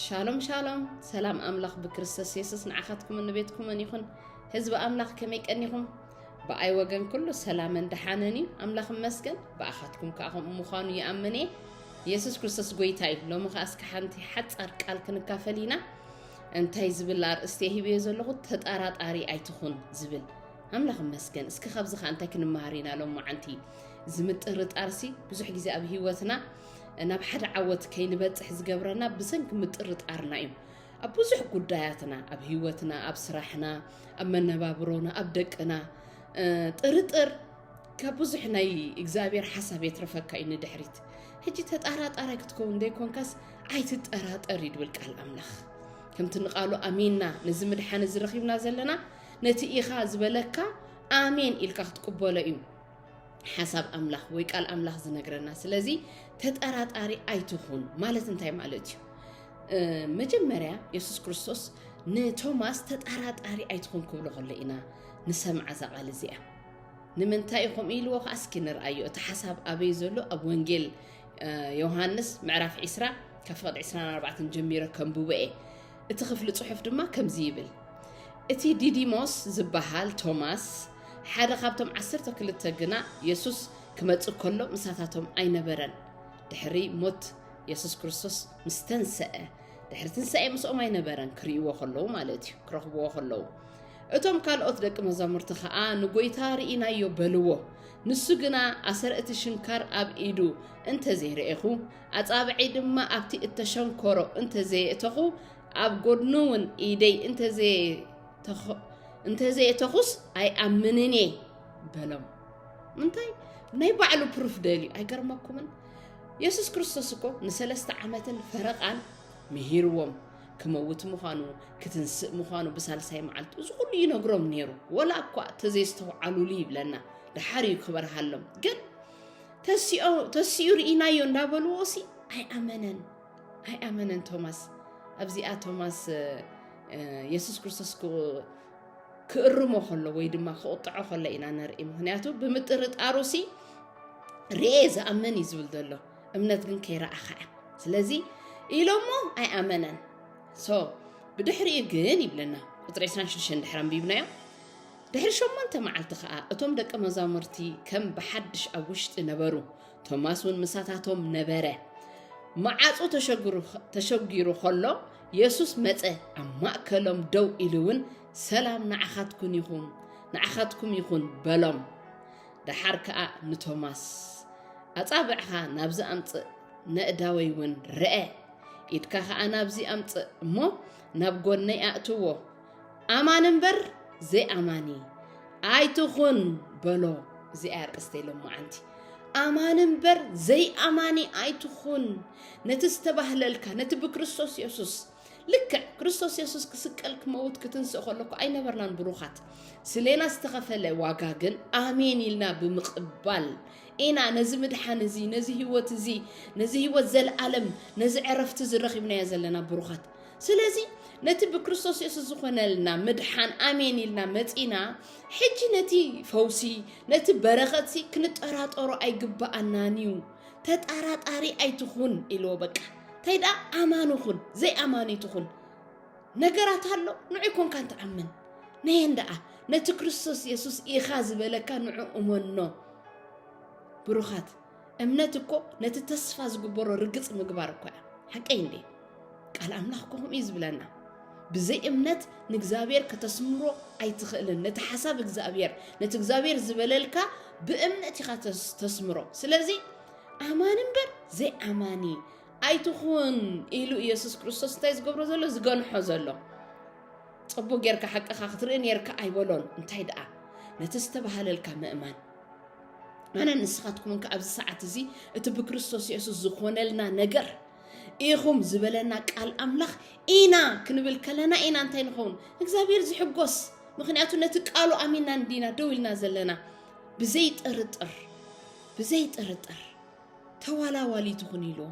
ሻሎም ሻሎም ሰላም ኣምላኽ ብክርስቶስ የሱስ ንዓኻትኩምን ንቤትኩምን ይኹን ህዝቢ ኣምላኽ ከመይ ቀኒኹም ብኣይ ወገን ኩሉ ሰላምን ደሓንን እዩ ኣምላኽ መስገን ብኣኻትኩም ከዓ ከምኡ ምዃኑ ይኣምን እየ የሱስ ክርስቶስ ጎይታ እዩ ሎሚ ከዓ እስከ ሓንቲ ሓፃር ቃል ክንካፈል ኢና እንታይ ዝብል ኣርእስቲ ሂብዮ ዘለኹ ተጠራጣሪ ኣይትኹን ዝብል ኣምላኽ መስገን እስኪ ካብዚ ከዓ እንታይ ክንመሃር ኢና ሎም መዓንቲ እዚ ምጥርጣርሲ ብዙሕ ግዜ ኣብ ሂወትና ናብ ሓደ ዓወት ከይንበፅሕ ዝገብረና ብሰንኪ ምጥርጣርና እዩ ኣብ ብዙሕ ጉዳያትና ኣብ ህይወትና ኣብ ስራሕና ኣብ መነባብሮና ኣብ ደቅና ጥርጥር ካብ ብዙሕ ናይ እግዚኣብሔር ሓሳብ የትረፈካ እዩ ንድሕሪት ሕጂ ተጣራጣራይ ክትከውን ዘይኮንካስ ኣይትጠራጠር እዩ ድብል ቃል ኣምላኽ ከምቲ ንቃሉ ኣሚንና ነዚ ምድሓን እዚ ረኺብና ዘለና ነቲ ኢኻ ዝበለካ ኣሜን ኢልካ ክትቅበሎ እዩ ሓሳብ ኣምላኽ ወይ ቃል ኣምላኽ ዝነግረና ስለዚ ተጠራጣሪ ኣይትኹን ማለት እንታይ ማለት እዩ መጀመርያ የሱስ ክርስቶስ ንቶማስ ተጠራጣሪ ኣይትኹን ክብሎ ከሎ ኢና ንሰምዓ እዛ ቃል እዚኣ ንምንታይ ኢኹም ኢልዎ ከዓ እስኪ ንርኣዮ እቲ ሓሳብ ኣበይ ዘሎ ኣብ ወንጌል ዮሃንስ ምዕራፍ 20 ካብ ፍቕድ 24 ጀሚረ ከንብቦ እየ እቲ ክፍሊ ጽሑፍ ድማ ከምዚ ይብል፣ እቲ ዲዲሞስ ዚበሃል ቶማስ፣ ሓደ ኻብቶም ዓሰርተ ክልተ ግና፣ የሱስ ኪመጽእ ከሎ ምሳታቶም ኣይነበረን። ድሕሪ ሞት የሱስ ክርስቶስ ምስ ተንስአ፣ ድሕሪ ትንሳኤ ምስኦም ኣይነበረን፣ ኪርእይዎ ኸለዉ ማለት እዩ፣ ኪረኽብዎ ኸለዉ። እቶም ካልኦት ደቂ መዛሙርቲ ኸኣ ንጐይታ ርኢናዮ በልዎ። ንሱ ግና ኣሰር እቲ ሽንካር ኣብ ኢዱ እንተ ዘይርኤኹ፣ ኣጻብዕይ ድማ ኣብቲ እተሸንኰሮ እንተ ዘየእተኹ፣ ኣብ ጐድኑውን ኢደይ እንተ ዘየእተኹስ ኣይኣምንን እየ በሎም። ምንታይ ናይ ባዕሉ ፕሩፍ ደልዩ ኣይገርመኩምን? የሱስ ክርስቶስ እኮ ንሰለስተ ዓመትን ፈረቓን ምሂርዎም ክመውት ምዃኑ ክትንስእ ምዃኑ ብሳልሳይ መዓልቲ እዚ ኩሉ ይነግሮም ነይሩ ወላ እኳ እተዘይስተውዓሉሉ ይብለና ደሓር እዩ ክበርሃሎም ግን ተሲኦ ተሲኡ ርኢናዮ እንዳበልዎ ሲ ኣይኣመነን ኣይኣመነን ቶማስ ኣብዚኣ ቶማስ የሱስ ክርስቶስ ክእርሞ ከሎ ወይ ድማ ክቕጥዖ ከሎ ኢና ንርኢ ምክንያቱ ብምጥርጣሩ ሲ ርኤ ዝኣምን እዩ ዝብል ዘሎ እምነት ግን ከይረኣኻ እያ ስለዚ ኢሎሞ ኣይኣመነን ሶ ብድሕሪኡ ግን ይብለና ቁፅሪ 26 ድሕር ኣንቢብናዮ ድሕሪ ሸሞንተ መዓልቲ ኸኣ እቶም ደቀ መዛሙርቲ ከም ብሓድሽ ኣብ ውሽጢ ነበሩ፣ ቶማስ እውን ምሳታቶም ነበረ። መዓጹ ተሸጒሩ ኸሎ የሱስ መጸ፣ ኣብ ማእከሎም ደው ኢሉ እውን ሰላም ንዓኻትኩን ይኹን ንዓኻትኩም ይኹን በሎም። ደሓር ከኣ ንቶማስ ኣጻብዕኻ ናብዚ ኣምጽእ፣ ነእዳወይ እውን ርኣ፣ ኢድካ ኸኣ ናብዚ ኣምጽእ እሞ ናብ ጎነይ ኣእትዎ፣ ኣማኒ እምበር ዘይኣማኒ ኣይትኹን በሎ። እዚኣ ኣርእስተይ ሎማዓንቲ ኣማኒ እምበር ዘይኣማኒ ኣይትኹን። ነቲ ዝተባህለልካ ነቲ ብክርስቶስ የሱስ ልክዕ ክርስቶስ የሱስ ክስቀል ክመውት ክትንስእ ከለኩ ኣይነበርናን ብሩኻት ስሌና ዝተኸፈለ ዋጋ ግን ኣሜን ኢልና ብምቕባል ኢና ነዚ ምድሓን እዚ ነዚ ህይወት እዚ ነዚ ህይወት ዘለኣለም ነዚ ዕረፍቲ ዝረኺብናዮ ዘለና ብሩኻት ስለዚ ነቲ ብክርስቶስ የሱስ ዝኾነልና ምድሓን ኣሜን ኢልና መጺና ሕጂ ነቲ ፈውሲ ነቲ በረኸትሲ ክንጠራጠሮ ኣይግባኣናን እዩ ተጠራጣሪ ኣይትኹን ኢልዎ በቃ እንታይ ደኣ ኣማኒ ኹን ዘይኣማኒ ትኹን ነገራት ኣሎ ንዑ ኮንካ እንትኣምን ነየን ደኣ ነቲ ክርስቶስ የሱስ ኢኻ ዝበለካ ንዑ እመኖ ብሩኻት እምነት እኮ ነቲ ተስፋ ዝግበሮ ርግጽ ምግባር እኮ እያ ሓቀይ እንዴ ቃል ኣምላኽ እኮ ከምኡ እዩ ዝብለና ብዘይ እምነት ንእግዚኣብሔር ከተስምሮ ኣይትኽእልን ነቲ ሓሳብ እግዚኣብሔር ነቲ እግዚኣብሔር ዝበለልካ ብእምነት ኢኻ ተስምሮ ስለዚ ኣማኒ እምበር ዘይኣማኒ ኣይትኹን ኢሉ ኢየሱስ ክርስቶስ እንታይ ዝገብሮ ዘሎ ዝገንሖ ዘሎ ፅቡቅ ጌርካ ሓቅኻ ክትርኢ ነርካ ኣይበሎን እንታይ ደኣ ነቲ ዝተባሃለልካ ምእማን ኣነ ንስኻትኩምን ከዓ ኣብዚ ሰዓት እዚ እቲ ብክርስቶስ የሱስ ዝኾነልና ነገር ኢኹም ዝበለና ቃል ኣምላኽ ኢና ክንብል ከለና ኢና እንታይ ንኸውን እግዚኣብሔር ዝሕጎስ ምክንያቱ ነቲ ቃሉ ኣሚና እንዲና ደው ኢልና ዘለና ብዘይ ጥርጥር ብዘይ ጥርጥር ተዋላዋሊ ትኹን ኢልዎ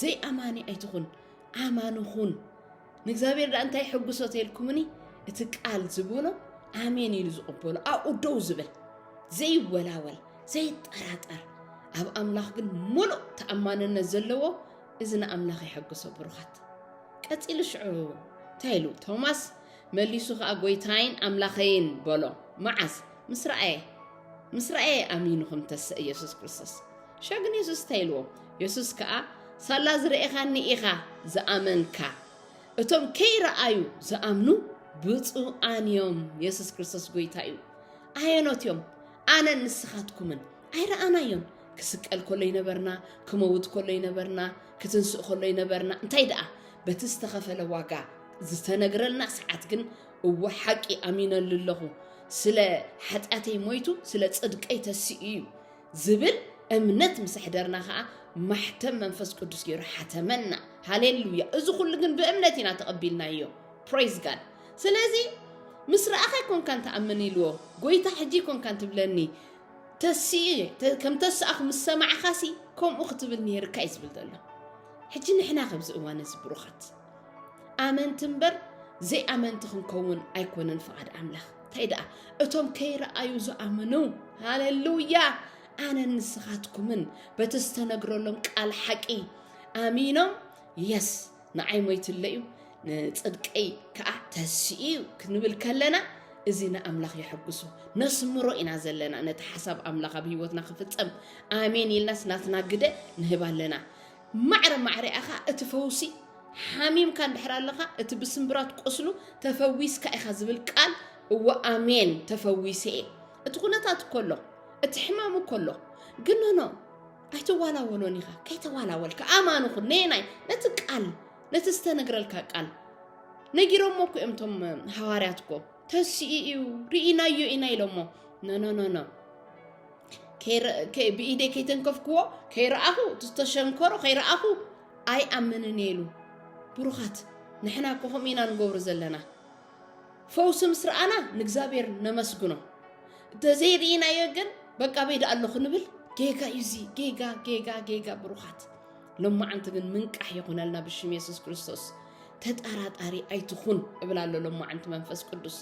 ዘይኣማኒ ኣይትኹን ኣማኒ ኹን ንእግዚኣብሔር ዳኣ እንታይ ሕጉሶ ተልኩምኒ እቲ ቃል ዝብሎ ኣሜን ኢሉ ዝቕበሎ ኣብኡ ደው ዝብል ዘይወላወል ዘይጠራጠር ኣብ ኣምላኽ ግን ሙሉእ ተኣማንነት ዘለዎ እዚ ንኣምላኽ የሐግሶ ብሩኻት ቀፂሉ ሽዑ እንታይ ኢሉ ቶማስ መሊሱ ከዓ ጎይታይን ኣምላኸይን በሎ መዓዝ ምስ ረኣየ ምስ ረኣየ ኣሚኑ ከም ተሰ ኢየሱስ ክርስቶስ ሸግ ንየሱስ እንታይ ኢልዎ? የሱስ ከኣ ሳላ ዝረኤኻኒ ኢኻ ዝኣመንካ፣ እቶም ከይረኣዩ ዝኣምኑ ብፁዓን እዮም፣ የሱስ ክርስቶስ ጐይታ እዩ። ኣየኖት እዮም ኣነን ንስኻትኩምን? ኣይረኣናዮን። ክስቀል ከሎ ይነበርና፣ ክመውት ከሎ ይነበርና፣ ክትንስእ ከሎ ይነበርና። እንታይ ደኣ በቲ ዝተኸፈለ ዋጋ ዝተነግረልና ሰዓት ግን እወ ሓቂ ኣሚነሉ ኣለኹ ስለ ሓጢኣተይ ሞይቱ ስለ ጽድቀይ ተሲኡ እዩ ዝብል እምነት ምስ ኣሕደርና ከኣ ማሕተም መንፈስ ቅዱስ ገይሩ ሓተመና። ሃሌሉያ! እዚ ኩሉ ግን ብእምነት ኢና ተቐቢልናዮ። ፕሬዝ ጋድ። ስለዚ ምስ ረኣኻ ኣይኮንካን ትኣምን ኢልዎ፣ ጎይታ ሕጂ ኣይኮንካን ትብለኒ፣ ተሲኢ ከም ተስኣኹ ምስ ሰማዕኻሲ ከምኡ ክትብል ነይርካ እዩ ዝብል ዘሎ። ሕጂ ንሕና ከብዚ እዋን እዚ ብሩኻት ኣመንቲ እምበር ዘይኣመንቲ ክንከውን ኣይኮነን ፍቓድ ኣምላኽ እንታይ ደኣ እቶም ከይረኣዩ ዝኣምኑ ሃሌሉያ ኣነ ንስኻትኩምን በቲ ዝተነግረሎም ቃል ሓቂ ኣሚኖም የስ ንዓይ ሞይትለ እዩ ንፅድቀይ ከዓ ተስኡ እዩ ክንብል ከለና እዚ ንኣምላኽ የሐጉሱ ነስምሮ ኢና ዘለና ነቲ ሓሳብ ኣምላኽ ኣብ ህይወትና ክፍፀም ኣሜን ኢልናስ ናትና ግደ ንህብ ኣለና ማዕረ ማዕሪኣ ከኣ እቲ ፈውሲ ሓሚምካ እንድሕር ኣለኻ እቲ ብስምብራት ቁስሉ ተፈዊስካ ኢኻ ዝብል ቃል እወ ኣሜን ተፈዊሰ እየ እቲ ኩነታት እኮ ኣሎ እቲ ሕማም እኮ ኣሎ ግን ኖኖ ኣይትዋላወሎን ኢኻ ከይተዋላወልካ ኣማን ኹን ነየናይ ነቲ ቃል ነቲ ዝተነግረልካ ቃል ነጊሮሞ እኮ እዮም እቶም ሃዋርያት እኮ ተስኡ እዩ ርኢናዮ ኢና ኢሎሞ ኖኖኖኖ ብኢደይ ከይተንከፍክዎ ከይረኣኹ ዝተሸንከሮ ከይረኣኹ ኣይኣምንን እየ ኢሉ ብሩኻት ንሕና እኮ ከምኡ ኢና ንገብሩ ዘለና ፈውሲ ምስ ረኣና ንእግዚኣብሔር ነመስግኖ እንተዘይርኢናዮ ግን በቃ በይድ ኣለኹ ንብል ጌጋ እዩ እዚ ጌጋ ጌጋ ጌጋ ብሩኻት ሎማዓንቲ ግን ምንቃሕ ይኹነልና ብሽም የሱስ ክርስቶስ ተጠራጣሪ ኣይትኹን እብላ ኣሎ ሎማዓንቲ መንፈስ ቅዱስ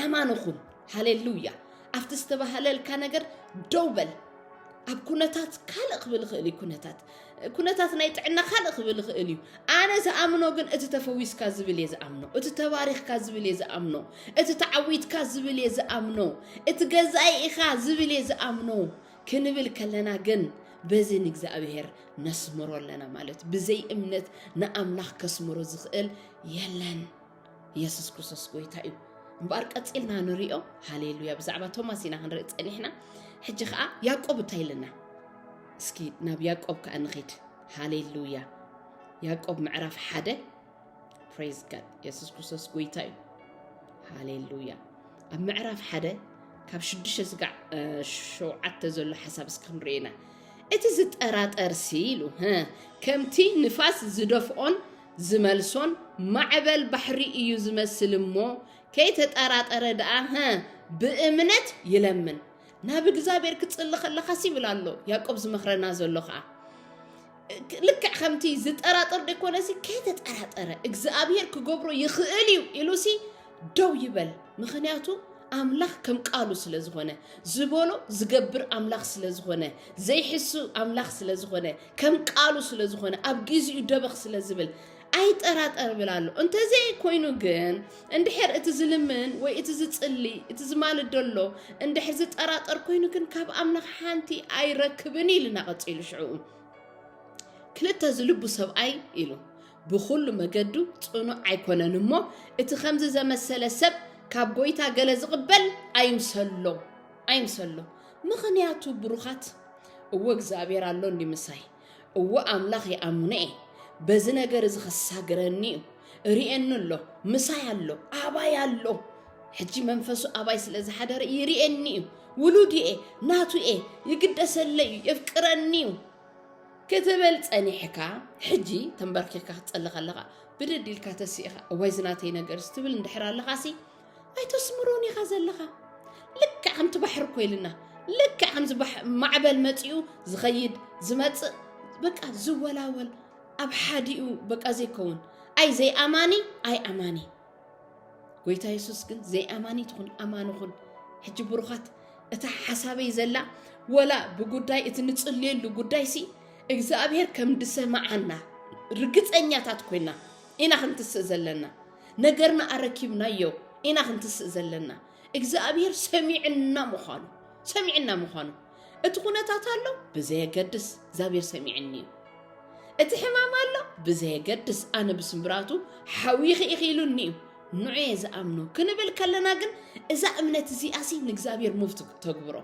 ኣማን ኹን ሃሌሉያ ኣብቲ ዝተባህለልካ ነገር ደው በል ኣብ ኩነታት ካልእ ክብል ይኽእል እዩ ኩነታት ኩነታት ናይ ጥዕና ካልእ ክብል ይኽእል እዩ ኣነ ዝኣምኖ ግን እቲ ተፈዊስካ ዝብል እየ ዝኣምኖ እቲ ተባሪኽካ ዝብል እየ ዝኣምኖ እቲ ተዓዊትካ ዝብል እየ ዝኣምኖ እቲ ገዛኢ ኢኻ ዝብል እየ ዝኣምኖ ክንብል ከለና ግን በዚ ንእግዚኣብሔር ነስምሮ ኣለና ማለት ብዘይ እምነት ንኣምላኽ ከስምሮ ዝኽእል የለን የሱስ ክርስቶስ ጎይታ እዩ እምበኣር ቀጺልና ንሪኦ ሃሌሉያ ብዛዕባ ቶማስ ኢና ክንርኢ ጸኒሕና ሕጂ ከዓ ያዕቆብ እንታይ ኢለና እስኪ ናብ ያዕቆብ ከዓ ንኺድ ሃሌሉያ ያዕቆብ ምዕራፍ ሓደ ፕሬዝ ጋድ የሱስ ክርስቶስ ጎይታ እዩ ሃሌሉያ ኣብ ምዕራፍ ሓደ ካብ ሽዱሽተ ስጋዕ ሸውዓተ ዘሎ ሓሳብ እስኪ ክንሪኦ ኢና እቲ ዝጠራጠርሲ ኢሉ ከምቲ ንፋስ ዝደፍኦን ዝመልሶን ማዕበል ባሕሪ እዩ ዝመስል እሞ ከይተጠራጠረ ደኣ ህ ብእምነት ይለምን ናብ እግዚኣብሔር ክጽሊ ከለኻስ ይብል ኣሎ ያዕቆብ ዝመኽረና ዘሎ ከዓ ልክዕ ከምቲ ዝጠራጠር ደኮነሲ ከይተጠራጠረ እግዚኣብሔር ክገብሮ ይኽእል እዩ ኢሉሲ ደው ይበል ምክንያቱ ኣምላኽ ከም ቃሉ ስለ ዝኾነ ዝበሎ ዝገብር ኣምላኽ ስለ ዝኾነ ዘይሕሱ ኣምላኽ ስለ ዝኾነ ከም ቃሉ ስለ ዝኾነ ኣብ ግዜኡ ደበኽ ስለ ዝብል ኣይጠራጠር ብል ኣሎ እንተዘይ ኮይኑ ግን እንድሕር እቲ ዝልምን ወይ እቲ ዝፅሊ እቲ ዝማልድ ደሎ እንድሕር ዝጠራጠር ኮይኑ ግን ካብ ኣምላኽ ሓንቲ ኣይረክብን ኢልና ቀፂሉ ሽዕኡ ክልተ ዝልቡ ሰብኣይ ኢሉ ብኹሉ መገዱ ጽኑዕ ኣይኮነን እሞ እቲ ከምዚ ዘመሰለ ሰብ ካብ ጎይታ ገለ ዝቕበል ኣይምሰሎ ኣይምሰሎ ምኽንያቱ ብሩኻት እወ እግዚኣብሔር ኣሎኒ ምሳይ እወ ኣምላኽ ይኣምኖ እየ በዚ ነገር እዚ ከሳግረኒ እዩ ርእየኒ ኣሎ ምሳይ ኣሎ ኣባይ ኣሎ ሕጂ መንፈሱ ኣባይ ስለ ዝሓደረ ይርእየኒ እዩ ውሉድ እየ ናቱ እየ ይግደሰለይ እዩ የፍቅረኒ እዩ ክትብል ጸኒሕካ ሕጂ ተንበርኪኽካ ክትጸሊ ከለኻ ብድድ ኢልካ ተሲእኻ እዋይ ዝናተይ ነገርስ ትብል እንድሕር ኣለኻሲ ኣይተስምሮን ኢኻ ዘለኻ ልክዕ ከምቲ ባሕሪ ኮይልና ልክዕ ከምዚ ማዕበል መጺኡ ዝኸይድ ዝመጽእ በቃ ዝወላወል ኣብ ሓዲኡ በቃ ዘይከውን ኣይ ዘይኣማኒ ኣይ ኣማኒ ጎይታ የሱስ ግን ዘይኣማኒት ኹን ኣማኒ ኹን ሕጂ ብሩኻት እታ ሓሳበይ ዘላ ወላ ብጉዳይ እቲ ንጽልየሉ ጉዳይ ሲ እግዚኣብሔር ከም ድሰማዓና ርግጸኛታት ኮይና ኢና ክንትስእ ዘለና ነገርና ኣረኪብናዮ ኢና ክንትስእ ዘለና እግዚኣብሔር ሰሚዕና ምዃኑ ሰሚዕና ምዃኑ እቲ ኩነታት ኣሎ ብዘየገድስ እግዚኣብሔር ሰሚዕኒ እዩ እቲ ሕማም ኣሎ ብዘየገድስ ኣነ ብስምብራቱ ሓዊኺ ኢኺ ኢሉኒ እዩ ንዑ እየ ዝኣምኖ ክንብል ከለና ግን እዛ እምነት እዚኣ ሲ ንእግዚኣብሔር ሙቭ ተግብሮ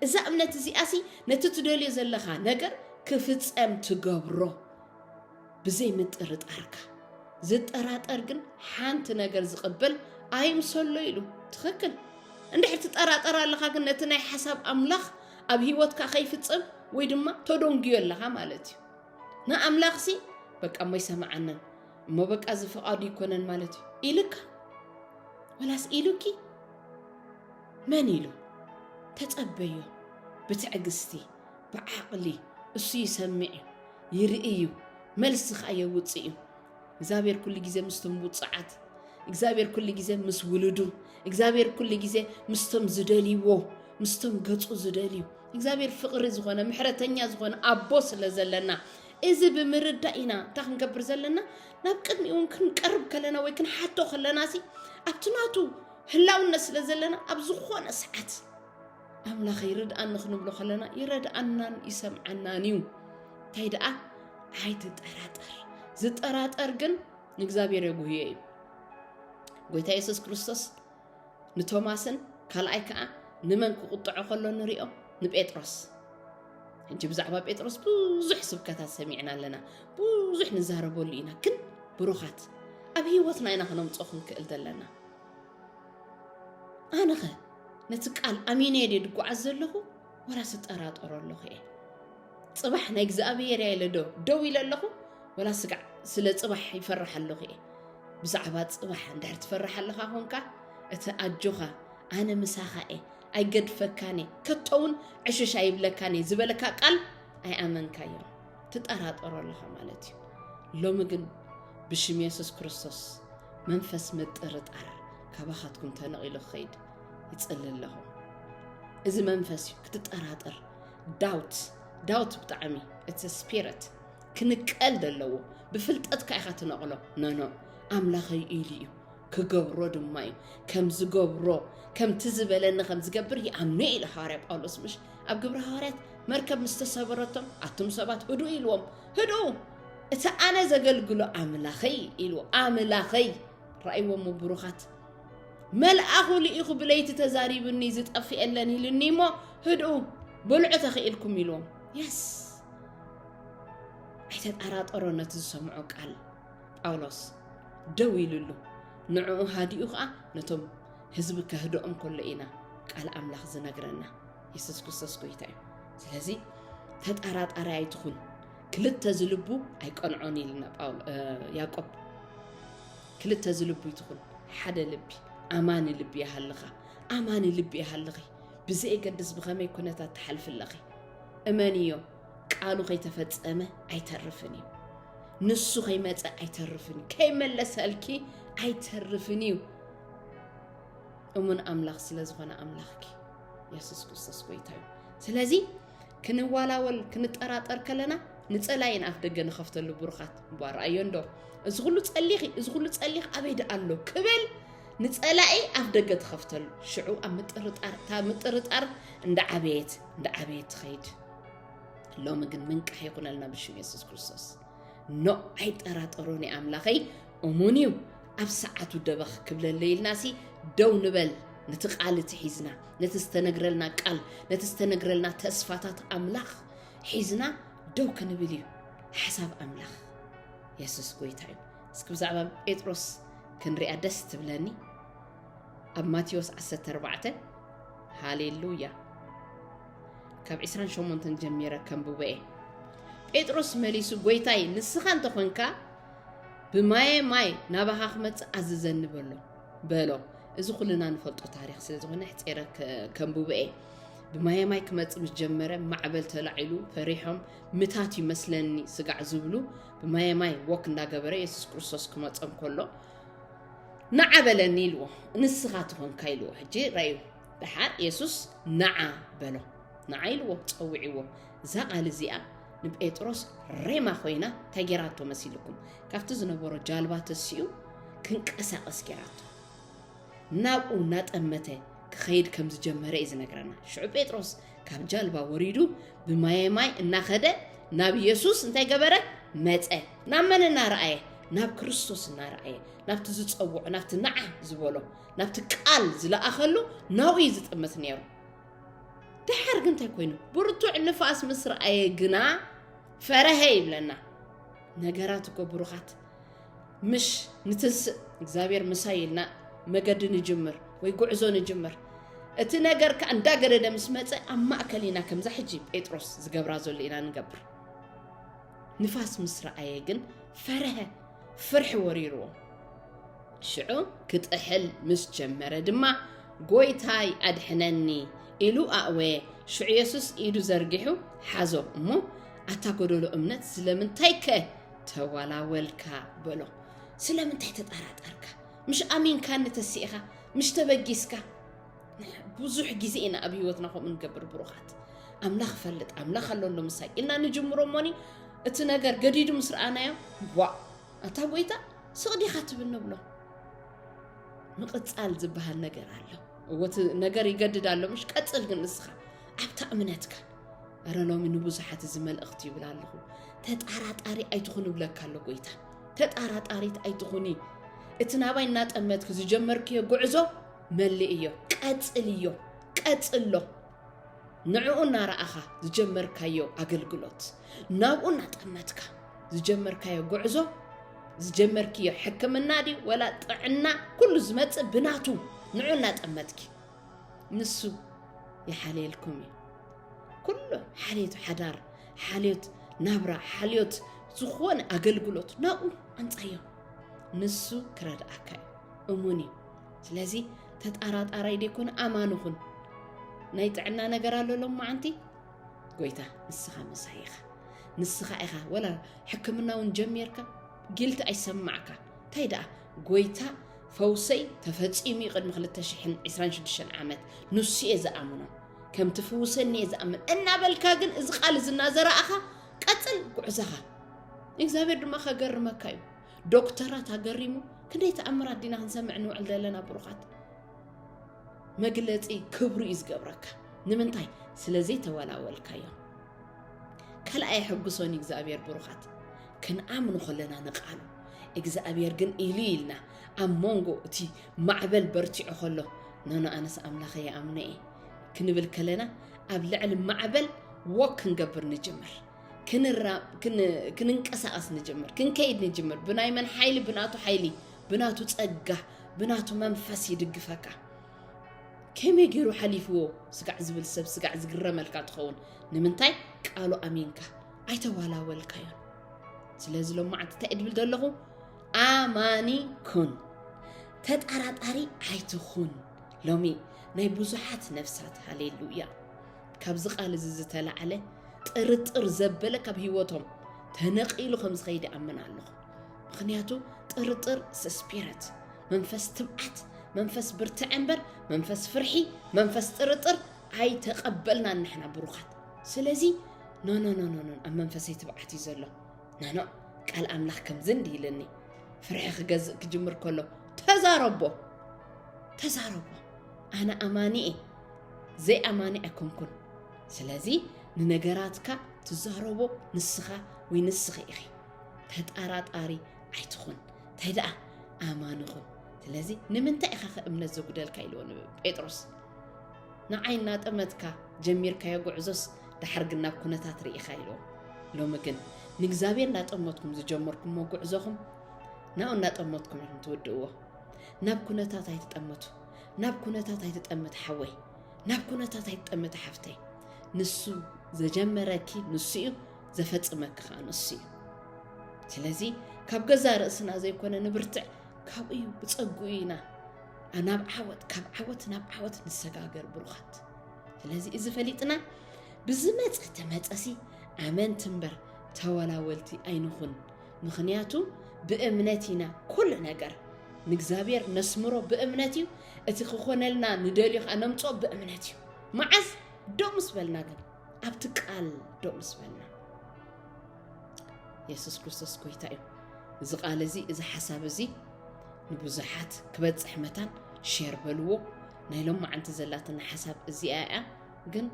እዛ እምነት እዚኣ ሲ ነቲ ትደልዮ ዘለኻ ነገር ክፍፀም ትገብሮ ብዘይ ምጥርጣርካ ዝጠራጠር ግን ሓንቲ ነገር ዝቕበል ኣይምሰሎ ኢሉ ትኽክል እንድሕር ትጠራጠር ኣለኻ ግን ነቲ ናይ ሓሳብ ኣምላኽ ኣብ ህይወትካ ከይፍፀም ወይ ድማ ተደንግዮ ኣለኻ ማለት እዩ ንኣምላኽ ሲ በቃ እሞ ይሰምዓንን እሞ በቃ እዚ ፍቓዱ ይኮነን ማለት እዩ ኢልካ ወላስ ኢሉኪ መን ኢሉ ተፀበዮ ብትዕግስቲ ብዓቕሊ እሱ ይሰምዕ እዩ ይርኢ እዩ መልሲ ከዓ የውፅእ እዩ እግዚኣብሔር ኩሉ ግዜ ምስቶም ውፅዓት እግዚኣብሔር ኩሉ ግዜ ምስ ውሉዱ እግዚኣብሔር ኩሉ ግዜ ምስቶም ዝደልይዎ ምስቶም ገፁ ዝደልዩ እግዚኣብሔር ፍቕሪ ዝኾነ ምሕረተኛ ዝኾነ ኣቦ ስለ ዘለና እዚ ብምርዳእ ኢና እንታይ ክንገብር ዘለና ናብ ቅድሚኡ እውን ክንቀርብ ከለና ወይ ክንሓቶ ከለና ሲ ኣብቲ ናቱ ህላውነት ስለ ዘለና ኣብ ዝኾነ ሰዓት ኣምላኸ ይርድኣኒ ክንብሎ ከለና ይረድኣናን ይሰምዓናን እዩ እንታይ ደኣ ኣይትጠራጠር ዝጠራጠር ግን ንእግዚኣብሔር የጉህዮ እዩ ጎይታ የሱስ ክርስቶስ ንቶማስን ካልኣይ ከዓ ንመን ክቁጥዖ ከሎ ንሪኦ ንጴጥሮስ ሕጂ ብዛዕባ ጴጥሮስ ብዙሕ ስብከታት ሰሚዕና ኣለና ብዙሕ ንዛረበሉ ኢና ግን ብሩኻት ኣብ ህይወትና ኢና ክነምፅኦ ክንክእል ዘለና ኣነኸ ነቲ ቃል ኣሚነ ድየ ድጓዓዝ ዘለኹ ወላስ እጠራጠሮ ኣለኹ እየ ፅባሕ ናይ እግዚኣብሄር እያ ኢለ ዶ ደው ኢለ ኣለኹ ወላ ስጋዕ ስለ ፅባሕ ይፈራሕ ኣለኹ እየ ብዛዕባ ፅባሕ እንድሕር ትፈራሕ ኣለኻ ኮንካ እቲ ኣጆኻ ኣነ ምሳኻ እየ ኣይገድፈካን እየ ከቶ እውን ዕሽሽ ኣይብለካን እየ ዝበለካ ቃል ኣይኣመንካዮ ትጠራጠሮ ኣለኻ ማለት እዩ ሎሚ ግን ብሽም የሱስ ክርስቶስ መንፈስ ምጥርጣር ካባኻትኩም ተነቒሉ ክኸይድ ይጽሊ ኣለኹ እዚ መንፈስ እዩ ክትጠራጠር ዳውት ዳውት ብጣዕሚ እቲ ስፒረት ክንቀል ዘለዎ ብፍልጠትካ ኢኻ ትነቕሎ ነኖ ኣምላኸይ ኢሉ እዩ ክገብሮ ድማ እዩ ከም ዝገብሮ ከምቲ ዝበለኒ ከም ዝገብር ይኣምኑ ኢለ ሃዋርያ ጳውሎስ ምሽ ኣብ ግብሪ ሃዋርያት መርከብ ምስ ተሰበረቶም ኣቱም ሰባት ህዱ ኢልዎም ህዱ እቲ ኣነ ዘገልግሎ ኣምላኸይ ኢሉ ኣምላኸይ ራእይዎሞ ብሩኻት መልኣኹ ልኢኹ ብለይቲ ተዛሪብኒ ዝጠፍኤለን ኢልኒ እሞ ህድኡ በልዑ ተኽኢልኩም ኢልዎም የስ ኣይተጠራጠሮ ነቲ ዝሰምዖ ቃል ጳውሎስ ደው ኢሉሉ ንዕኡ ሃዲኡ ኸኣ ነቶም ህዝቢ ከህድኦም ከሎ ኢና ቃል ኣምላኽ ዝነግረና። የሱስ ክርስቶስ ጐይታ እዩ። ስለዚ ተጠራጣሪ ኣይትኹን፣ ክልተ ዝልቡ ኣይቀንዖን ኢልና ያቆብ። ክልተ ዝልቡ ይትኹን፣ ሓደ ልቢ ኣማኒ ልቢ ይሃልኻ፣ ኣማኒ ልቢ ይሃልኺ። ብዘየገድስ ብኸመይ ኩነታት ትሓልፊ ኣለኺ እመንዮ። ቃሉ ከይተፈጸመ ኣይተርፍን እዩ ንሱ ከይመፀ ኣይተርፍን እዩ ከይመለሰልኪ ኣይተርፍን እዩ እሙን ኣምላኽ ስለ ዝኾነ ኣምላኽኪ የሱስ ክርስቶስ ጎይታ እዩ ስለዚ ክንዋላወል ክንጠራጠር ከለና ንፀላይን ኣፍ ደገ ንኸፍተሉ ብሩኻት እባ ረኣዮ እንዶ እዚ ኩሉ ፀሊኺ እዚ ኩሉ ፀሊኺ ኣበይ ደኣ ኣሎ ክብል ንፀላኢ ኣፍ ደገ ትኸፍተሉ ሽዑ ኣብ ምጥርጣር እታ ምጥርጣር እንዳዓበየት እንዳዓበየት ትኸይድ ሎሚ ግን ምንቃሕ ይኹነልና ብሽም የሱስ ክርስቶስ ኖ ኣይጠራጠሮን እዩ ኣምላኸይ እሙን እዩ ኣብ ሰዓቱ ደበኽ ክብለለ ኢልና ሲ ደው ንበል ነቲ ቃል እቲ ሒዝና ነቲ ዝተነግረልና ቃል ነቲ ዝተነግረልና ተስፋታት ኣምላኽ ሒዝና ደው ክንብል እዩ ሓሳብ ኣምላኽ የሱስ ጎይታ እዩ እስኪ ብዛዕባ ጴጥሮስ ክንሪኣ ደስ ትብለኒ ኣብ ማቴዎስ 14 ሃሌሉያ ካብ ዕስራን ሸሞንተን ጀሚረ ከንብቦ እየ ጴጥሮስ መሊሱ ጎይታይ ንስኻ እንተኾንካ ብማየ ማይ ናባኻ ክመፅእ ኣዝዘኒ በሎ በሎ እዚ ኩልና ንፈልጦ ታሪክ ስለዝኾነ ሕፂረ ከንብቦ እየ ብማየ ማይ ክመፅ ምስ ጀመረ ማዕበል ተላዒሉ ፈሪሖም ምታት ይመስለኒ ስጋዕ ዝብሉ ብማየ ማይ ወክ እንዳገበረ የሱስ ክርስቶስ ክመፆም ከሎ ንዓበለኒ ኢልዎ ንስኻ ትኾንካ ኢልዎ ሕጂ ራዩ ደሓር የሱስ ነዓ በሎ ነዓ ኢልዎ ጸዊዕዎ እዛ ቓል እዚኣ ንጴጥሮስ ሬማ ኮይና እንታይ ጌራቶ መሲልኩም ካብቲ ዝነበሮ ጃልባ ተሲኡ ክንቀሳቐስ ጌራቶ ናብኡ እናጠመተ ክኸይድ ከም ዝጀመረ እዩ ዝነግረና ሽዑ ጴጥሮስ ካብ ጃልባ ወሪዱ ብማየ ማይ እናኸደ ናብ የሱስ እንታይ ገበረ መፀ ናብ መን እናረኣየ ናብ ክርስቶስ እናረኣየ ናብቲ ዝፀውዖ ናብቲ ነዓ ዝበሎ ናብቲ ቃል ዝለኣኸሉ ናብኡ እዩ ዝጥምት ነይሩ ድሓር ግን እንታይ ኮይኑ ብርቱዕ ንፋስ ምስ ረኣየ ግና ፈረሀ ይብለና ነገራት እኮ ብሩኻት ምሽ ንትንስእ እግዚኣብሔር ምሳይ ኢልና መገዲ ንጅምር ወይ ጉዕዞ ንጅምር እቲ ነገር ከዓ እንዳገደደ ምስ መፀ ኣብ ማእከል ኢና ከምዛ ሕጂ ጴጥሮስ ዝገብራ ዘሎ ኢና ንገብር ንፋስ ምስ ረኣየ ግን ፈረሀ፣ ፍርሒ ወሪርዎ። ሽዑ ክጥሕል ምስ ጀመረ ድማ ጎይታይ ኣድሕነኒ ኢሉ ኣእወየ። ሽዑ የሱስ ኢዱ ዘርጊሑ ሓዞ እሞ ኣታ ጎደሎ እምነት ስለምንታይከ ተዋላወልካ በሎ። ስለምንታይ ተጠራጠርካ? ምሽ ኣሚንካኒ ተሲእኻ? ምሽ ተበጊስካ? ብዙሕ ግዜ ኢና ኣብ ህይወትና ከምኡ ንገብር ብሩኻት ኣምላኽ ፈልጥ ኣምላኽ ኣሎ ኣሎ ምሳይ ኢልና ንጅምሮ እሞኒ እቲ ነገር ገዲዱ ምስ ረኣናዮ ዋ ኣታ ጎይታ ስቕዲኻ ትብል ንብሎ ምቕፃል ዝበሃል ነገር ኣሎ እወቲ ነገር ይገድድ ኣሎ ምሽ ቀፅል ግን ንስኻ ኣብታ እምነትካ ኣረ ሎሚ ንብዙሓት እዚ መልእኽቲ ይብል ኣለኹ ተጣራጣሪ ኣይትኹን እብለካ ኣሎ ጎይታ ተጣራጣሪት ኣይትኹኒ እቲ ናባይ እናጠመትኪ ዝጀመርክዮ ጉዕዞ መልእዮ ቀጽልዮ ቀጽሎ ንዕኡ እናረኣኻ ዝጀመርካዮ ኣገልግሎት ናብኡ እናጠመትካ ዝጀመርካዮ ጉዕዞ ዝጀመርክዮ ሕክምና ድዩ ወላ ጥዕና ኩሉ ዝመፅእ ብናቱ ንዑ እናጠመትኪ ንሱ ይሓልየልኩም እዩ ኩሉ ሓልዮት ሓዳር ሓልዮት ናብራ ሓልዮት ዝኾነ ኣገልግሎት ናብኡ ኣንፃዮ ንሱ ክረድኣካ እዩ እሙን እዩ ስለዚ ተጣራጣራይ ደይኮነ ኣማኒ ኹን ናይ ጥዕና ነገር ኣሎ ሎም መዓንቲ ጎይታ ንስኻ ምሳይ ኢኻ ንስኻ ኢኻ ወላ ሕክምና እውን ጀሚርካ ጊልቲ ኣይሰማዕካ እንታይ ደኣ ጎይታ ፈውሰይ ተፈፂሙ እዩ ቅድሚ 226 ዓመት ንሱ እየ ዝኣምኖ ከም ትፍውሰኒ እየ ዝኣምን እናበልካ ግን እዚ ቃል እዚ እናዘረኣኻ ቀፅል ጉዕዘኻ እግዚኣብሔር ድማ ከገርመካ እዩ ዶክተራት ኣገሪሙ ክንደይ ተኣምራት ዲና ክንሰምዕ ንውዕል ዘለና ብሩኻት መግለፂ ክብሩ እዩ ዝገብረካ ንምንታይ ስለዘይተወላወልካዮ ካልኣይ ሕጉሶን እግዚኣብሔር ብሩኻት ክንኣምኑ ከለና ንቃሉ እግዚኣብሔር ግን ኢሉ ኢልና ኣብ መንጎ እቲ ማዕበል በርቲዑ ከሎ ኖኖ ኣነስ ኣምላኸ ይኣምነ እየ ክንብል ከለና ኣብ ልዕሊ ማዕበል ወክ ክንገብር ንጅምር ክንንቀሳቐስ ንጅምር ክንከይድ ንጅምር ብናይ መን ሓይሊ ብናቱ ሓይሊ ብናቱ ፀጋ ብናቱ መንፈስ ይድግፈካ ከመይ ገይሩ ሓሊፍዎ ስጋዕ ዝብል ሰብ ስጋዕ ዝግረመልካ ትኸውን ንምንታይ ቃሉ ኣሚንካ ኣይተዋላወልካዮ ስለዚ ሎማዓንቲ እንታይ እድብል ዘለኹ ኣማኒ ኩን ተጠራጣሪ ኣይትኹን ሎሚ ናይ ብዙሓት ነፍሳት ሃሌሉያ ካብዚ ቃል እዚ ዝተላዕለ ጥርጥር ዘበለ ካብ ህይወቶም ተነቒሉ ከም ዝኸይድ ይኣምን ኣለኹ ምክንያቱ ጥርጥር ስስፒረት መንፈስ ትብዓት መንፈስ ብርትዐ እምበር መንፈስ ፍርሒ መንፈስ ጥርጥር ኣይተቐበልና ንሕና ብሩኻት ስለዚ ኖኖኖኖኖ ኣብ መንፈሰይ ትብዓት እዩ ዘሎ ናኖ ቃል ኣምላኽ ከምዚ እንዲ ኢልኒ ፍርሒ ክገዝእ ክጅምር ከሎ ተዛረቦ ተዛረቦ ኣነ ኣማኒ እየ ዘይኣማኒ ኣይኮንኩን ስለዚ ንነገራትካ ትዛረቦ ንስኻ ወይ ንስኺ ኢኺ ተጣራጣሪ ኣይትኹን እንታይ ደኣ ኣማኒ ኹን ስለዚ ንምንታይ ኢኻ ከእምነት ዘጉደልካ ኢልዎ ንጴጥሮስ ንዓይ እናጠመትካ ጀሚርካዮ ጉዕዞስ ድሓር ግን ናብ ኩነታት ርኢኻ ኢልዎ ሎሚ ግን ንእግዚኣብሔር እናጠመትኩም ዝጀመርኩምዎ ጉዕዞኹም ናብኡ እናጠመትኩም ኢኹም ትውድእዎ ናብ ኩነታት ኣይትጠመቱ ናብ ኩነታት ኣይትጠምት ሓወይ ናብ ኩነታት ኣይትጠምት ሓፍተይ ንሱ ዘጀመረኪ ንሱ እዩ ዘፈጽመኪ ከዓ ንሱ እዩ ስለዚ ካብ ገዛ ርእስና ዘይኮነ ንብርትዕ ካብኡ እዩ ብፀግኡ ኢና ናብ ዓወት ካብ ዓወት ናብ ዓወት ንሰጋገር ብሩኻት ስለዚ እዚ ፈሊጥና ብዝመፀ ተመፀሲ ኣመንቲ እምበር ተወላወልቲ ኣይንኹን ምኽንያቱ ብእምነት ኢና ኩሉ ነገር ንእግዚኣብሔር ነስምሮ ብእምነት እዩ እቲ ክኾነልና ንደልዮ ከዓ ነምፅኦ ብእምነት እዩ መዓዝ ዶ ምስ በልና ግን ኣብቲ ቃል ዶ ምስ በልና የሱስ ክርስቶስ ጎይታ እዩ እዚ ቃል እዚ እዚ ሓሳብ እዚ ንብዙሓት ክበፅሕ መታን ሼር በልዎ ናይ ሎማዓንቲ ዘላትና ሓሳብ እዚኣ እያ ግን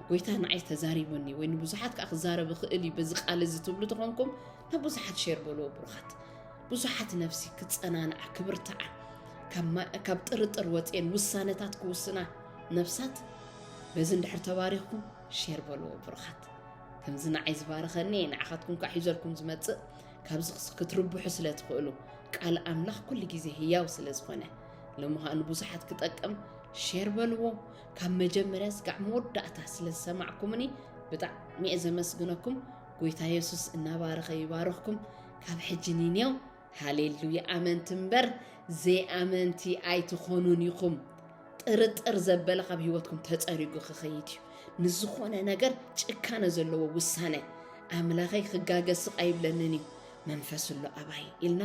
ጎይታ ንዓይ ተዛሪቡኒ ወይ ንብዙሓት ከዓ ክዛረብ ይኽእል እዩ በዚ ቃል እዚ ትብሉ ተኾንኩም ናብ ብዙሓት ሸር በልዎ ብሩኻት ብዙሓት ነፍሲ ክፀናንዓ ክብርትዓ ካብ ጥርጥር ወፅየን ውሳነታት ክውስና ነፍሳት በዚ እንድሕር ተባሪኽኩም ሸር በልዎ ብሩኻት ከምዚ ንዓይ ዝባረኸኒ ንዓኻትኩም ከዓ ሒዘልኩም ዝመፅእ ካብዚ ክትርብሑ ስለ ትኽእሉ ቃል ኣምላኽ ኩሉ ግዜ ህያው ስለ ዝኾነ ንምዃኑ ብዙሓት ክጠቅም ሼር በልዎ ካብ መጀመርያ ስጋዕ መወዳእታ ስለ ዝሰማዕኩምኒ ብጣዕሚ እየ ዘመስግነኩም ጎይታ የሱስ እናባረኸ ይባርኽኩም ካብ ሕጂ ንኔው ሃሌሉያ ኣመንቲ እምበር ዘይኣመንቲ ኣይትኾኑን ኢኹም ጥርጥር ዘበለ ካብ ህይወትኩም ተፀሪጉ ክኸይድ እዩ ንዝኾነ ነገር ጭካነ ዘለዎ ውሳነ ኣምላኸይ ክጋገ ስቕ ኣይብለንን እዩ መንፈስ ኣሎ ኣባይ ኢልና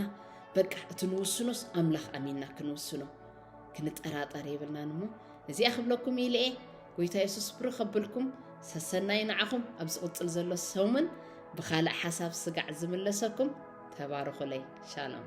በቃ እቲ ንውስኖስ ኣምላኽ ኣሚንና ክንውስኖ ክንጠራጠር የብልናን እሞ እዚኣ ክብለኩም ኢለ እየ ጎይታ የሱስ ብሩኽ ከብልኩም ሰሰናይ ንዓኹም ኣብ ዝቕፅል ዘሎ ሰሙን ብኻልእ ሓሳብ ስጋዕ ዝምለሰኩም ተባረኹለይ ሻሎም